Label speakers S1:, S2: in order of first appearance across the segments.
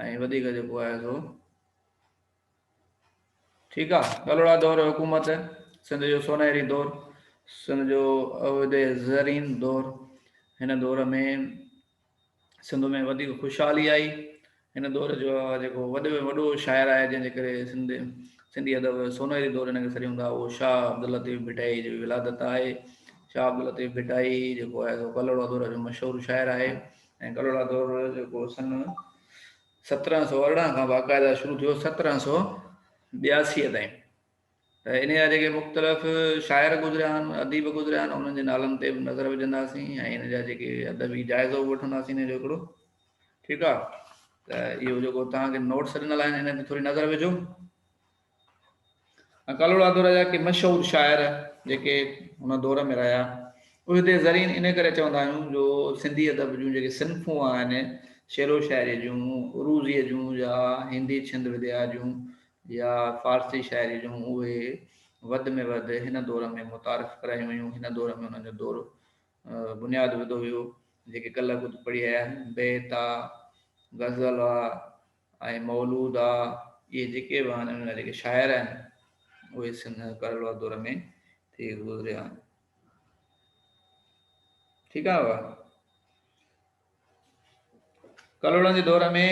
S1: ۽ وڌيڪ جيڪو آهي سو ٺيڪ آهي ڪلوڙا دور حڪومت سنڌ جو سونهري دور سنڌ جو عهد زرين دور هن دور ۾ سنڌ ۾ وڌيڪ خوشحالي آئي هن دور جو جيڪو وڏو ۾ وڏو شاعر آهي جنهن جي ڪري سنڌ سنڌي ادب سونهري دور هن کي سڏيون ٿا اهو شاهه عبدالطيف ڀٽائي جي ولادت آهي شاهه عبدالطيف ڀٽائي جيڪو آهي سو ڪلوڙا دور جو مشهور شاعر آهي ۽ ڪلهوڙا دور جيڪو سن سترهن سؤ ارڙهن کان باقاعده شروع ٿيو سترهن سؤ ٻياسي تائين ته ان جا جيڪي مختلف شاعر گذريا آهن اديب گذريا آهن انهن جي نالن تي به نظر وجهنداسين ۽ ان جا جيڪي ادبي جائزو به وٺنداسين جو هڪڙو ٺيڪ آهي ته اهو جيڪو توهان کي نوٽس ڏنل آهن ان تي ٿوري نظر وجهو ڪالهوڙا دور جا ڪي مشهور شاعر جيڪي ان دور ۾ رهيا اهي هتي زرين ان ڪري چوندا آهيون جو سنڌي ادب جون جيڪي صنفون آهن شعر و شاعري جون عروضي جون يا هندي ڇند وديا جون يا فارسي شاعري جون اهي وڌ ۾ وڌ هن دور ۾ متعارف ڪرايون ويون هن دور ۾ انهن جو دور بنياد وڌو ويو جيڪي ڪلهه خود پڙهي آيا آهن بيت آ غزل آ ۽ مولود آ، اهي جيڪي به آهن ان جيڪي شاعر آهن اهي سنڌ ڪرڙولا دور ۾ ٿي گذريا آهن ٺيڪ آهي بابا ڪلوڙن جي دور ۾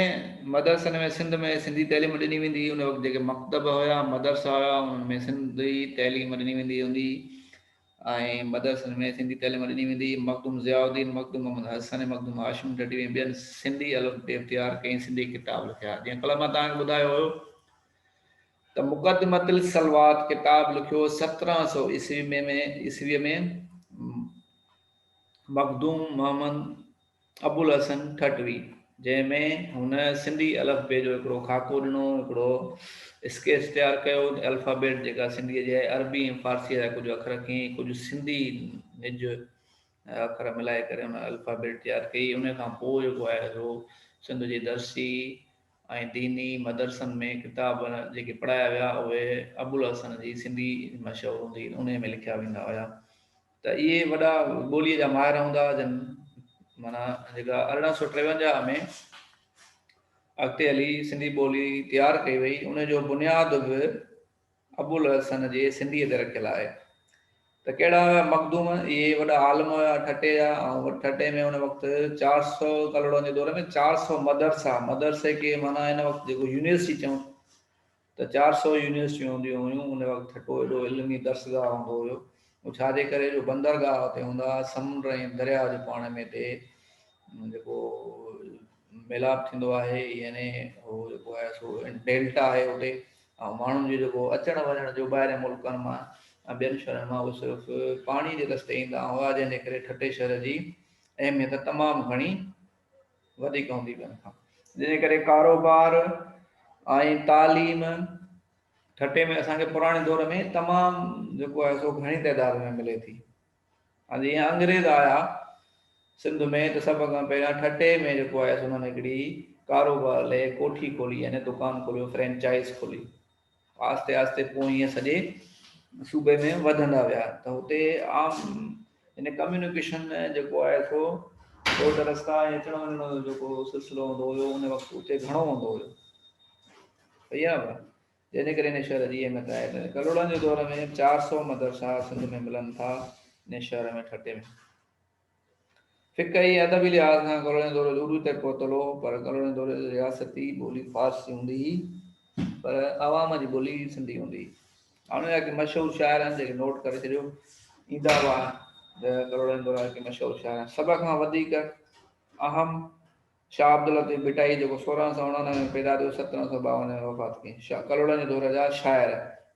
S1: مدرسن ۾ سنڌ ۾ سنڌي تعليم ڏني ويندي ان وقت جيڪي مڪتب هيا مدرسا هيا انهن ۾ سنڌي تعليم ڏني ويندي هوندي ۽ مدرسن ۾ سنڌي تعليم ڏني ويندي. مخدوم ضياء الدين، مخدوم محمد حسن ۽ مخدوم هاشم ڍڍيء ۽ ٻين سنڌي الف بي تيار ڪئي ۽ سنڌي ڪتاب لکيا. جيئن ڪلهه مان توهان کي ٻڌايو هيو ته مقدمة الصلوات ڪتاب لکيو سترهن سؤ عيسوي ۾ عيسويء ۾ مخدوم محمد ابوالحسن ٺٽوي، جنهن ۾ هن سنڌي الفبي جو هڪڙو خاڪو ڏنو، هڪڙو اسڪيچ تيار ڪيو، الفابيٽ جيڪا سنڌيء جي آهي، عربي ۽ فارسيء جا ڪجهه اکر کين ۽ ڪجهه سنڌي نج اکر ملائي ڪري هن الفابيٽ تيار ڪئي، انهيء کان پوء جيڪو آهي سو سنڌ جي درسي ۽ ديني مدرسن ۾ ڪتاب جيڪي پڙهايا ويا، اهي ابوالحسن جي سنڌي مشهور هوندي انهيء ۾ لکيا ويندا هيا. ته اهي وڏا ٻوليء جا ماهر هوندا جن معنيٰ جيڪا ارڙهن سؤ ٽيونجاهه ۾ اڳتي هلي سنڌي ٻولي تيار ڪئي وئي ان جو بنياد به ابوالحسن جي سنڌيء تي رکيل آهي ته ڪهڙا هيا مخدوم اهي وڏا عالم هيا ٺٽي جا ۽ ٺٽي ۾ ان وقت چار سؤ ڪلهوڙن جي دور ۾ چار سؤ مدرسا مدرسي کي معنيٰ ان وقت جيڪو يونيورسٽي چئون ته چار سؤ يونيورسٽيون هونديون هيون، ان وقت ٺٽو ايڏو علمي درسگاهه هوندو هيو، اهو ڇاجي ڪري جو بندرگاهه اتي هوندا ها، سمنڊ ۽ درياهه جو پاڻ ۾ اتي جيڪو ميلاپ ٿيندو آهي يعني اهو جيڪو آهي سو ڊيلٽا آهي اتي ۽ ماڻهن جو جيڪو اچڻ وڃڻ جو ٻاهرين ملڪن مان ۽ ٻين شهرن مان اهو صرف پاڻي جي رستي ايندا هئا جنهن جي ڪري ٺٽي شهر جي اهميت تمام گهڻي وڌيڪ هوندي ٻين کان جنهن ڪري ڪاروبار ۽ تعليم ٺٽي ۾ اسان کي پراڻي دور ۾ تمام جيڪو آهي سو گهڻي تعداد ۾ ملي ٿي ۽ جيئن انگريز آيا سنڌ ۾ ته سڀ کان پهريان ٺٽي ۾ جيڪو آهي سو انهن هڪڙي ڪاروبار لئي ڪوٺي کولي يعني دڪان کوليو فرينچائز کولي آهستي آهستي پوء ائين سڄي صوبي ۾ وڌندا ويا ته هتي عام يعني ڪميونيڪيشن جيڪو آهي سو روڊ رستا ۽ اچڻ وڃڻ جو جيڪو سلسلو هوندو هيو ان وقت اتي گهڻو هوندو هيو صحيح آهي ڀا جنهن ڪري هن شهر جي اهميت آهي ته ڪلهوڙن جي دور ۾ چار سؤ مدرسا سنڌ ۾ ملن ٿا ان شهر ۾ ٺٽي ۾ فقهي ۽ ادبي لحاظ کان ڪلوڙين دور جو عروج تائين پهتل هو، پر ڪلوڙين دور جي رياستي ٻولي فارسي هوندي هئي، پر عوام جي ٻولي سنڌي هوندي هئي. هاڻوڪي ڪي مشهور شاعر آهن، جيڪي نوٽ ڪري ڇڏيو ايندا هئا ته ڪلوڙين دور جا ڪي مشهور شاعر آهن، سڀ کان وڌيڪ اهم، شاهه عبداللطيف ڀٽائي جيڪو سورهن سؤ اڻانوي ۾ پيدا ٿيو سترهن سؤ ٻاونجهه ۾ وفات ڪيائين شاهه ڪلهوڙن جي دور جا شاعر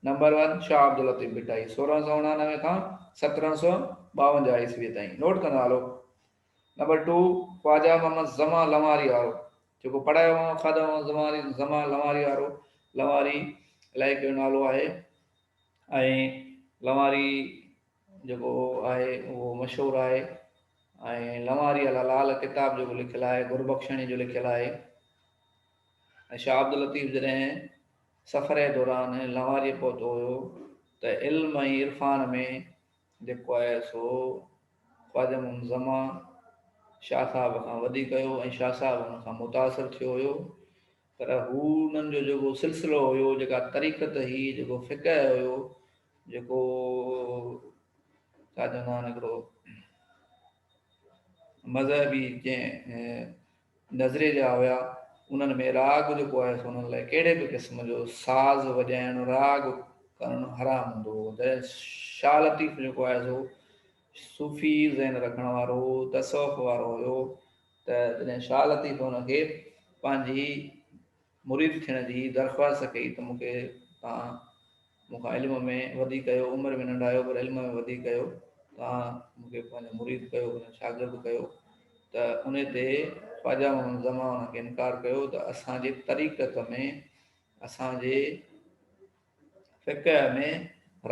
S1: نمبر ون شاهه عبداللطيف ڀٽائي سورهن سؤ اڻانوي کان سترهن سؤ ٻاونجهه عيسويء تائين نوٽ ڪندا هلو نمبر ٽو خواجه محمد زمان لنواري وارو جيڪو پڙهايو هئائون خواجه محمد زمان زمان لنواري وارو لنواري علائقي جو نالو آهي ۽ لنواري جيڪو آهي اهو مشهور آهي ۽ لنواريء لاء لال ڪتاب جيڪو لکيل آهي گربخشڻي جو لکيل آهي ۽ شاهه عبداللطيف جڏهن سفري دوران لنواريء پهتو هيو ته علم ۽ عرفان ۾ جيڪو آهي سو خواجه محمد زمان شاهه صاحب کان وڌيڪ هيو ۽ شاهه صاحب ان کان متاثر ٿيو هيو پر هو انهن جو جيڪو سلسلو هيو، جيڪا طريقت هئي، جيڪو فقه هيو، جيڪو ڇا چوندا آهن هڪڙو مذهبي جنهن نظريي جا هيا، انهن ۾ راڳ جيڪو آهي سو انهن لاء ڪهڙي به قسم جو ساز وڄائڻ، راڳ ڪرڻ حرام هوندو هو. جڏهن شاهه لطيف جيڪو آهي سو صوفي ذهن رکڻ وارو، تصوف وارو هيو، ته جڏهن شاهه لطيف هن کي پنهنجي مريد ٿيڻ جي درخواست ڪئي ته مون کي توهان مون کان علم ۾ وڌي ڪيو، عمر ۾ ننڍا آهيو پر علم ۾ وڌي ڪيو، توهان مون کي پنهنجو مريد ڪيو، پنهنجو شاگرد ڪيو ته ان تي خواجه محمد زمان ان کي انڪار ڪيو ته اسان جي طريقت ۾ اسان جي فقه ۾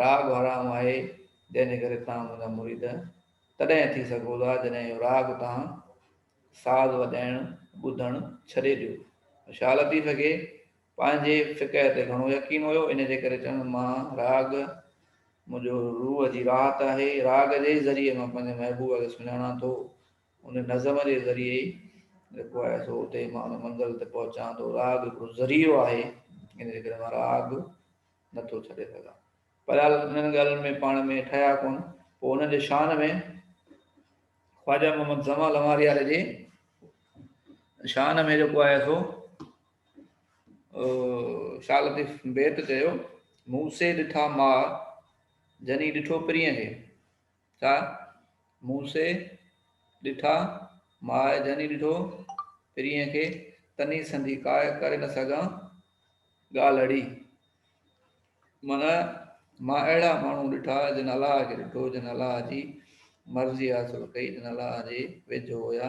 S1: راڳ حرام آهي، جنهن جي ڪري تان منهنجا مريد تڏهن ٿي سگهو ٿا جڏهن اهو راڳ تان، ساز وڄائڻ، ٻڌڻ، ڇڏي ڏيو. شاهه لطيف کي پنهنجي فقه تي گهڻو يقين هيو، ان جي ڪري چوندس مان راڳ منهنجو روح جي راحت آهي، راڳ جي ئي ذريعي مان پنهنجي محبوب کي سڃاڻان ٿو. ان نظم جي ذريعي ئي جيڪو آهي سو اتي مان ان منزل تي پهچان ٿو. راڳ هڪڙو ذريعو آهي، ان جي ڪري مان راڳ نه ٿو ڇڏي سگهان. بهرحال انهن ڳالهين ۾ پاڻ ۾ ٺهيا ڪونه. پوء انهن جي شان ۾ خواجه محمد زمان لماريار جي شان ۾ جيڪو آهي سو شاهه لطيف بيت چيو، مون سي ڏٺا ماء، جني ڏٺو پرينء کي. ڇا مون سي ڏٺا، ماء جني ڏٺو، پرينء کي تني سندي ڪاء ڪري نه سگهان ڳالهڙي. من مان اهڙا ماڻهو ڏٺا، جن الله کي ڏٺو، جن الله جي مرضي حاصل ڪئي، جن الله جي ويجهو هيا.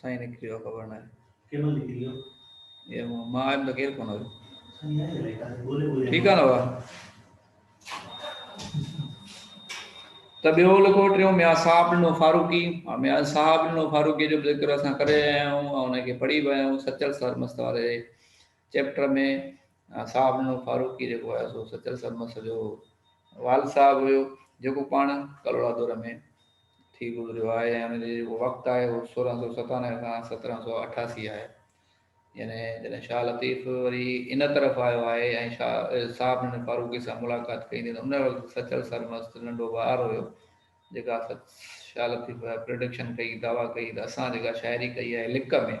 S1: سائين نڪري ويو خبر ناهي ڪنهن مهل نڪري ويو اي مان آيم ته ڪير ڪونه هيو ٺيڪ آهي نه بابا ته ٻيو لکو ٽيون ميان صاحب ڏنو فاروقي ۽ ميان صاحب ڏنو فاروقي جو ذڪر اسان ڪري آيا آهيون ۽ ان کي پڙهي به آيا آهيون سچل سر مست واري چيپٽر ۾ صاحب نو فاروقي جيڪو آهي سو سچل سرمست جو والد صاحب هيو جيڪو پاڻ ڪلهوڙا دور ۾ ٿي گذريو آهي ۽ ان جو جيڪو وقت آهي اهو سورهن سو ستانوي کان سترهن سو اٺاسي آهي يعني جڏهن شاهه لطيف وري ان طرف آيو آهي ۽ شاهه صاحب نو فاروقي سان ملاقات ڪئي ته ان وقت سچل سرمست ننڍو ٻار هيو جيڪا شاهه لطيف پرڊڪشن ڪئي دعويٰ ڪئي ته اسان جيڪا شاعري ڪئي آهي لڪ ۾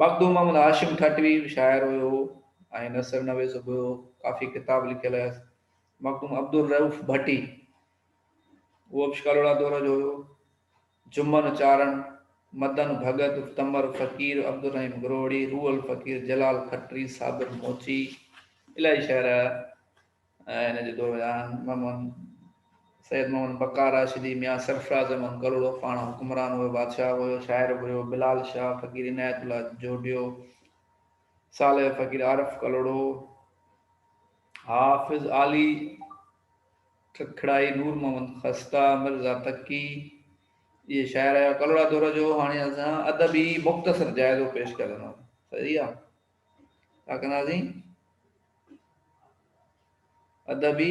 S1: مخدوم محمد هاشم ٺٽوي به شاعر هيو ۽ نثر نويس به هيو. ڪافي ڪتاب لکيل هيس. مخدوم عبدالرئوف ڀٽي، اهو به شڪالوڙا دور جو هيو. جمن چارڻ، مدن ڀڳت، تمر فقير، عبدالرحيم گروهڙي، روحل فقير، جلال کٽري، صابر موچي، الاهي شاعر هيا. ۽ ان جي دوران محمد سيد محمد بقا راشدي، ميان سرفراز احمد گلڙو پاڻ حڪمران هيو، بادشاهه هيو، شاعر به هيو، بلال شاهه، فقير عنايت الله جوڊيو، صالح فقير عارف گلڙو، حافظ عالي ککڙائي، نور محمد خسته، مرزا تقي، اهي شاعر هيا. گلڙا دور جو هاڻي اسان ادبي مختصر جائزو پيش ڪري سگهنداسين. صحيح آ. ڇا ڪنداسين؟ ادبي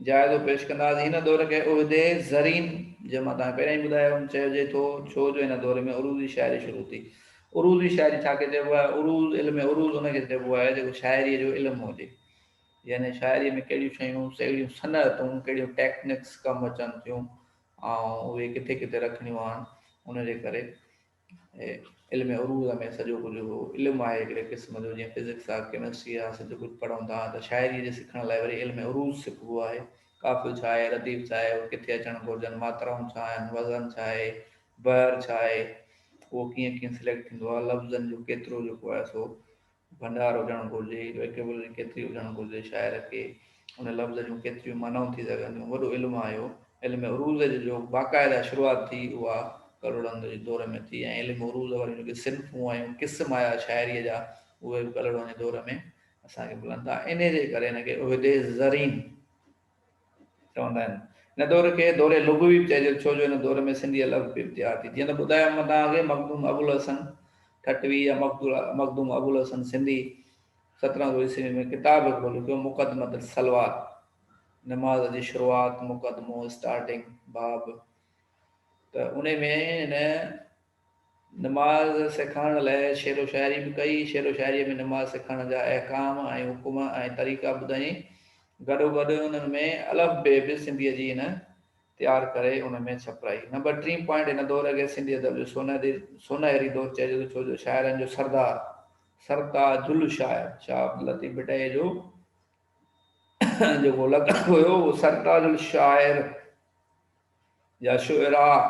S1: جائزو پيش ڪنداسين. هن دور کي عهدي زرين جنهن مان توهان پهريائين ٻڌايو هوم چئجي ٿو، ڇو جو هن دور ۾ عروضي شاعري شروع ٿي. عروضي شاعري ڇا کي چئبو آهي؟ عروض، علم عروض ان کي چئبو آهي جيڪو شاعريء جو علم هجي. يعني شاعريء ۾ ڪهڙيون شيون، ڪهڙيون صنعتون، ڪهڙيون ٽيڪنڪس ڪم اچن ٿيون ۽ اهي ڪٿي ڪٿي رکڻيون آهن، ان جي ڪري. علم عروض ۾ سڄو ڪجهه هو. علم آهي هڪڙي قسم جو جيئن فزڪس آ، ڪيمسٽري آ، سڄو ڪجهه پڙهون ٿا ته شاعريء جي سکڻ لاء وري علم عروض سکبو آهي. قافيو ڇا آهي، رديف ڇا آهي، اهي ڪٿي اچڻ گهرجن، ماترائون ڇا آهن، وزن ڇا آهي، بحر ڇا آهي، اهو ڪيئن ڪيئن سليڪٽ ٿيندو آهي، لفظن جو ڪيترو جيڪو آهي سو ڀنڊار هجڻ گهرجي، ويڪيبلري ڪيتري هجڻ گهرجي، شاعر کي ان لفظ جون ڪيتريون معنائون ٿي سگهن ٿيون، وڏو علم آهي اهو. علم عروض جي جو باقاعده شروعات ٿي اها ڪلهوڙن جي دور ۾ ٿي ۽ علم عروض واريون جيڪي صنفون ۽ قسم آيا شاعريء جا اهي به ڪلهوڙن جي دور ۾ اسان کي ملن ٿا. انهيء جي ڪري هن کي عهدي زرين، چوندا آهن. هن دور کي دور لغوي به چئجي ٿو، ڇو جو هن دور ۾ سنڌي لفظ پڻ تيار ٿي. جيئن ته ٻڌايو هو مان توهان کي مخدوم ابوالحسن ٺٽوي يا مخدوم ابوالحسن سنڌي سترهن سؤ عيسوي ۾ ڪتاب هڪڙو لکيو مقدمة الصلوات، نماز جي شروعات، مقدمو، اسٽارٽنگ، باب، ته انهي ۾ هن نماز سيکارڻ لاء شعر و شاعري به ڪئي. شعر و شاعريء ۾ نماز سيکارڻ جا احڪام ۽ حڪم ۽ طريقا ٻڌائين. گڏوگڏ انهن ۾ الف بي به سنڌيء جي هن تيار ڪري ان ۾ ڇپرائي. نمبر ٽين پوائنٽ هن دور کي سنڌي ادب جو سونهري دور چئجي ٿو، ڇو جو شاعرن جو سردار، سرتاج الشاعر شاهه عبداللطيف ڀٽائيء جو جيڪو لقب هيو اهو سرتاج الشاعر. جا شعراء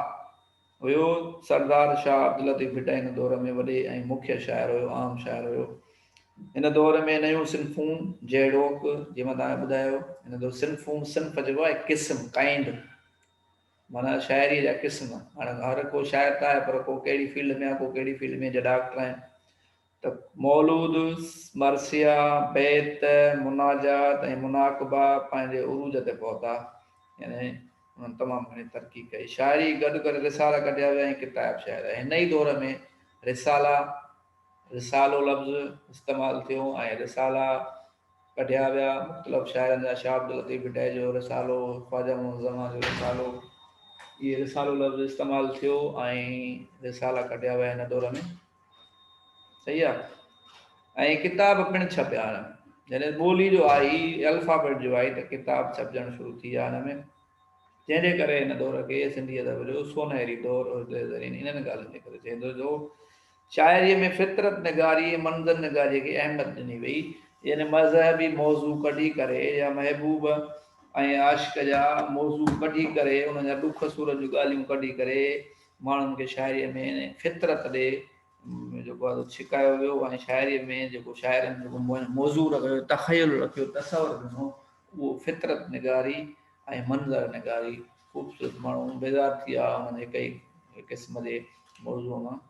S1: هيو. سردار شاهه عبداللطيف ڀٽائي هن دور ۾ وڏي ۽ مکيه شاعر هيو، عام شاعر هيو. هن دور ۾ نيون صنفون جهڙوڪ، جيئن مان توهان کي ٻڌايو، هن دور صنفون، صنف چئبو آهي قسم، Kind، معنيٰ شاعريء جا قسم. هاڻي هر ڪو شاعر ته آهي پر ڪو ڪهڙي فيلڊ ۾ آهي، ڪو ڪهڙي فيلڊ ۾ جا ڊاڪٽر آهن، ته مولود، مرثيا، بيت، مناجات ۽ مناقبا پنهنجي عروج تي پهتا، يعني انهن تمام گهڻي ترقي ڪئي. شاعري گڏ ڪري رسالا ڪڍيا ويا ۽ ڪتائب شاعر ۽ هن ئي دور ۾ رسالا، رسالو لفظ استعمال ٿيو ۽ رسالا ڪڍيا ويا مختلف شاعرن جا شاهه عبداللطيف ڀٽائي جو رسالو، خواجه محمد الزمان جو رسالو، اهي رسالو لفظ استعمال ٿيو ۽ رسالا ڪڍيا ويا هن دور ۾. صحيح آ ۽ ڪتاب پڻ ڇپيا آھن جڏھن ٻولي جو آئي الفابيٽ جو آئي ته ڪتاب ڇپجڻ شروع ٿي ويا ھن ۾ جنھن جي ڪري ھن دور کي سنڌي ادب جو سونھري دور اردو زرين انھن ڳالھين جي ڪري چئجي ٿو شاعري ۾ فطرت نگاري ۽ منظر نگاري کي اھميت ڏني وئي يعني مذھبي موضوع ڪڍي ڪري يا محبوب ۽ عاشق جا موضوع ڪڍي ڪري انھن جا ڏک سورن جون ڳالھيون ڪڍي ڪري ماڻهن کي شاعريء ۾ فطرت ڏي جيڪو آهي سو ڇڪايو ويو ۽ شاعريء ۾ جيڪو شاعرن جيڪو موضوع رکيو، تخيل رکيو، تصور ڏنو، اهو فطرت نگاري ۽ منظر نگاري خوبصورت ماڻهو بيزار ٿي ويا انهن هڪ ئي قسم جي موضوع مان.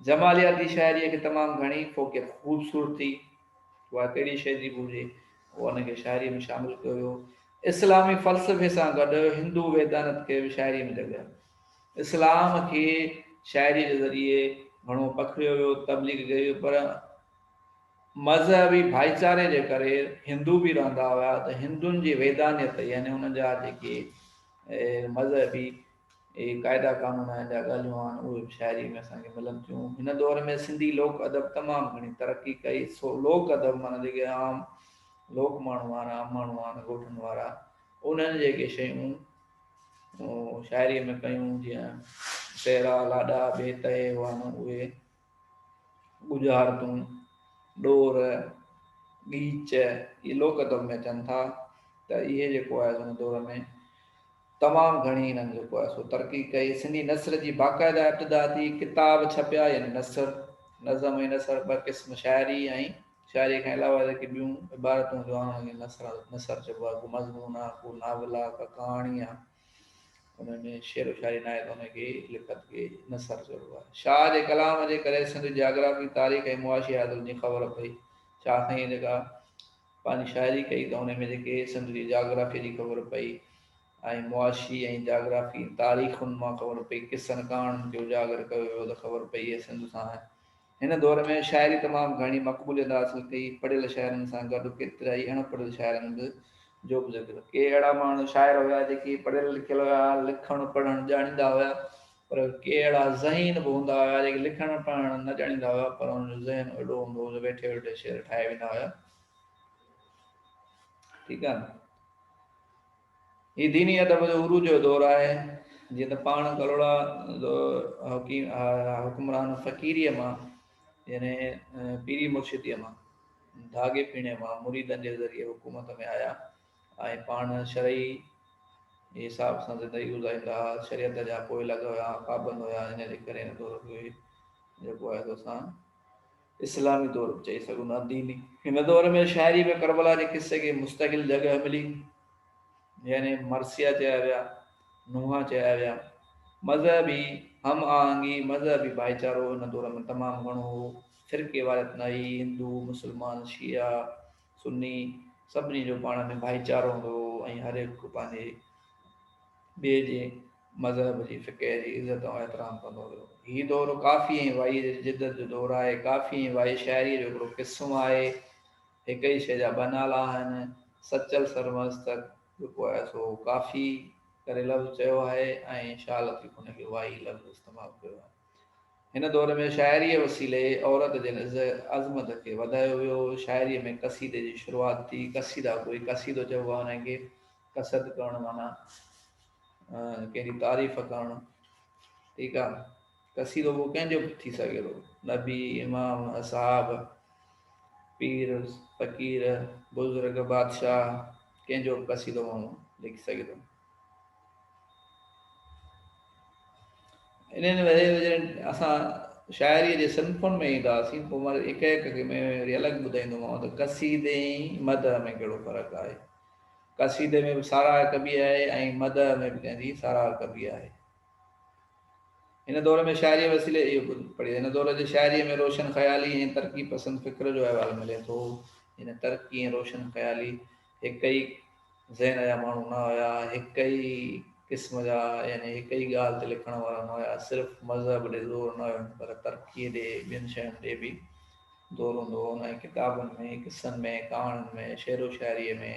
S1: جمالياتي شاعريء کي تمام گهڻي فوقيت خوبصورتي اها ڪهڙي شيء جي به هجي اهو ان کي شاعريء ۾ شامل ڪيو ويو. اسلامي فلسفي سان گڏ هندو ويدانت کي به شاعريء ۾ جڳهه. اسلام کي شاعري جي ذريعي گهڻو پکڙيو ويو، تبليغ ڪئي وئي پر مذهبي ڀائيچاري جي ڪري هندو به رهندا هيا ته هندن جي ويدانيت يعني انهن جا جيڪي مذهبي قاعدا قانون آهن جا ڳالهيون آهن اهي به شاعري ۾ اسان کي ملن ٿيون. هن دور ۾ سنڌي لوڪ ادب تمام گهڻي ترقي ڪئي سو لوڪ ادب معنيٰ جيڪي عام لوڪ ماڻهو آهن عام ماڻهو آهن ڳوٺن وارا انهن جيڪي شيون شاعريء ۾ ڪيون جيئن سهرا لاڏا بي تهي هئا نه اهي ڳجهارتون ڏور ڳيچ اهي لوڪ ادب ۾ اچن ٿا ته اهي جيڪو آهي ان دور ۾ تمام گهڻي هنن جيڪو آهي سو ترقي ڪئي سنڌي نثر جي باقاعده ابتدا ٿي ڪتاب ڇپيا يعني نثر نظم ۽ نثر ٻه قسم شاعري ۽ شاعريء کان علاوه جيڪي ٻيون عبارتون هونديون آهن انهن کي نثر نثر چئبو آهي ڪو مضمون آهي ڪو ناول آهي ڪا ڪهاڻي آهي انهن ۾ شعر و شاعري ناهي ته انهن کي لکت کي نثر چئبو آهي شاهه جي ڪلام جي ڪري سنڌ جي جاگرافي تاريخ ۽ معاشي حالتن جي خبر پئي شاهه سائينء جيڪا پنهنجي شاعري ڪئي ته انهي ۾ جيڪي سنڌ جي جاگرافي جي خبر پئي ۽ معاشي ۽ جاگرافي تاريخن مان خبر پئي قصن ڪهاڻين کي اجاگر ڪيو ويو ته خبر پئي هي سنڌ سان هن دور ۾ شاعري تمام گهڻي مقبوليت حاصل ڪئي، پڙهيل شاعرن سان گڏ ڪيترائي اڻ پڙهيل شاعرن به جو به ذڪر. ڪي اهڙا ماڻهو شاعر هيا جيڪي پڙهيل لکيل هيا، لکڻ پڙهڻ ڄاڻيندا هيا، پر ڪي اهڙا ذهين به هوندا هيا جيڪي لکڻ پڙهڻ نه ڄاڻيندا هيا، پر انهن جو ذهن اهڙو هوندو هو جو ويٺي ويٺي شعر ٺاهي ويندا هيا. ٺيڪ آهي نه؟ هي ديني ادب جو عروج جو دور آهي، جيئن ته پاڻ ڪلهوڙا حڪمران فقيريء مان يعني پيري مرشديء مان ڌاڳي ڦيڻي مان مريدن جي ذريعي حڪومت ۾ آيا ۽ پاڻ شرعي حساب سان زندگي گذاريندا ها، شريعت جا پوئلڳ هيا، پابند هيا، ان جي ڪري هن دور کي جيڪو آهي سو اسان اسلامي دور به چئي سگهون ٿا ديني. هن دور ۾ شاعري ۾ ڪربلا جي قصي کي مستقل جڳهه ملي يعني مرثيا چيا ويا، نوحا چيا ويا. مذهبي هم آهنگي، مذهبي ڀائيچارو هن دور ۾ تمام گهڻو هو. فرقي واريت نه هئي، هندو، مسلمان، شيعا، سني سڀني جو پاڻ ۾ ڀائيچارو هوندو هو ۽ هر هڪ پنهنجي ٻئي جي مذهب جي فقه جي عزت ۽ احترام ڪندو هيو. هي دور ڪافي ۽ وائيء جي جدت جو دور آهي. ڪافي ۽ وائي شاعريء جو هڪڙو قسم آهي. هڪ ئي شيء جا ٻه نالا آهن. سچل سرمست ته جيڪو آهي سو ڪافي ڪري لفظ چيو آهي ۽ شاهه لطيف ان کي وائي لفظ استعمال ڪيو آهي. هن دور ۾ شاعريء وسيلي عورت جي عز عظمت کي وڌايو ويو. شاعريء ۾ قصيدي جي شروعات ٿي. قصيده گوئي قصيدو چئبو آهي انهيء کي. قصد ڪرڻ معنيٰ. ڪنهن جي تعريف ڪرڻ ٺيڪ آ ڪسي رڳو ڪنهن جو به ٿي سگهي ٿو نبي امام اصحاب پير فقير بزرگ بادشاھ ڪنهن جو به قصيدو ماڻهو لکي سگهي ٿو انهن ويري جڏهن اسان شاعري جي صنفن ۾ اينداسين پوء مان هڪ هڪ کي ۾ الڳ ٻڌائيندومانو ته قصيدي ۽ مدح ۾ ڪهڙو فرق آهي قصيدي ۾ به ساراهه ڪبي آهي ۽ مدح ۾ به ڪنهن جي ساراهه ڪبي آهي. هن دور ۾ شاعريء وسيلي اهو به پڙهي هن دور جي شاعريء ۾ روشن خيالي ۽ ترقي پسند فڪر جو احوال ملي ٿو. جڏهن ترقي ۽ روشن خيالي هڪ ئي ذهن جا ماڻهو نه هيا، هڪ ئي قسم جا يعني هڪ ئي ڳالهه تي لکڻ وارا نه هيا، صرف مذهب ڏي زور نه هيو پر ترقيء ڏي ٻين شين ڏي به دور هوندو هو، انهن ڪتابن ۾، قصن ۾، ڪهاڻين ۾، شعر و شاعريء ۾،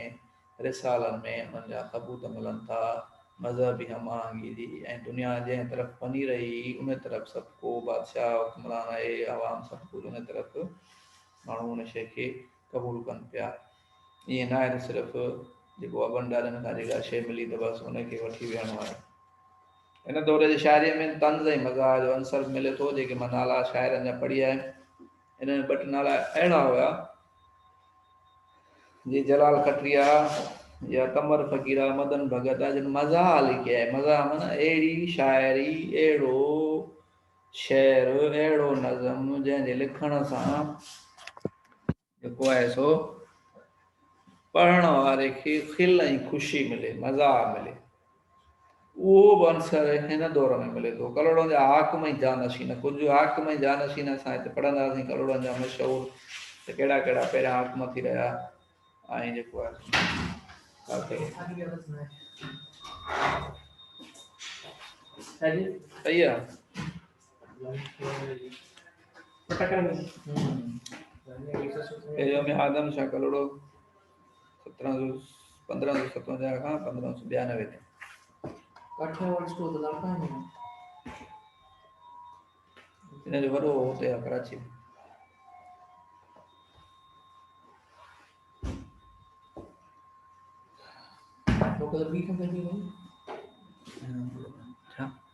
S1: رسالن ۾ انهن جا ثبوت ملن ٿا. مذهبي هم آهنگيء جي ۽ دنيا جنهن طرف پني رهي، انهيء طرف سڀ ڪو بادشاهه حڪمران آهي، عوام سڀ ڪجهه انهيء طرف ماڻهو ان شيء کي قبول ڪن پيا. ائين ناهي ته صرف جيڪو ابن ڏاڏن کان جيڪا شيء ملي ته بس ان کي وٺي ويهڻو آهي. هن دور جي شاعريء ۾ طنز ۽ مزاح جو عنصر به ملي ٿو، جيڪي مان نالا شاعرن جا پڙهي آيم، انهن ۾ ٻه ٽي نالا اهڙا هيا، جي جلال کٽريا يا قمر فقيرا، مدن ڀڳت آ جن مزاح لکي آهي، مزاح معنيٰ اهڙي شاعري، اهڙو شعر، اهڙو نظم جنهن جي لکڻ سان. جيڪو آهي سو پڙهڻ واري کي کل ۽ خوشي ملي، مزاح ملي. اهو به عنصر هن دور ۾ ملي ٿو. ڪلهوڙن جا حاڪم ۽ جانشين، ڪجهه حاڪم ۽ جانشين اسان هتي پڙهنداسين ڪلهوڙن جا مشهور ته ڪهڙا ڪهڙا پهريان حاڪم ٿي رهيا ۽ جيڪو آهي سو صحيح آهي. پهريون ۾ آدم شاهه ڪلهوڙو سترهن سو پندرهن سو ستونجاهه کان پندرهن سو ٻيانوي تائين ان جو وڏو هتي آهي ڪراچي ۾ ڪلهوڙو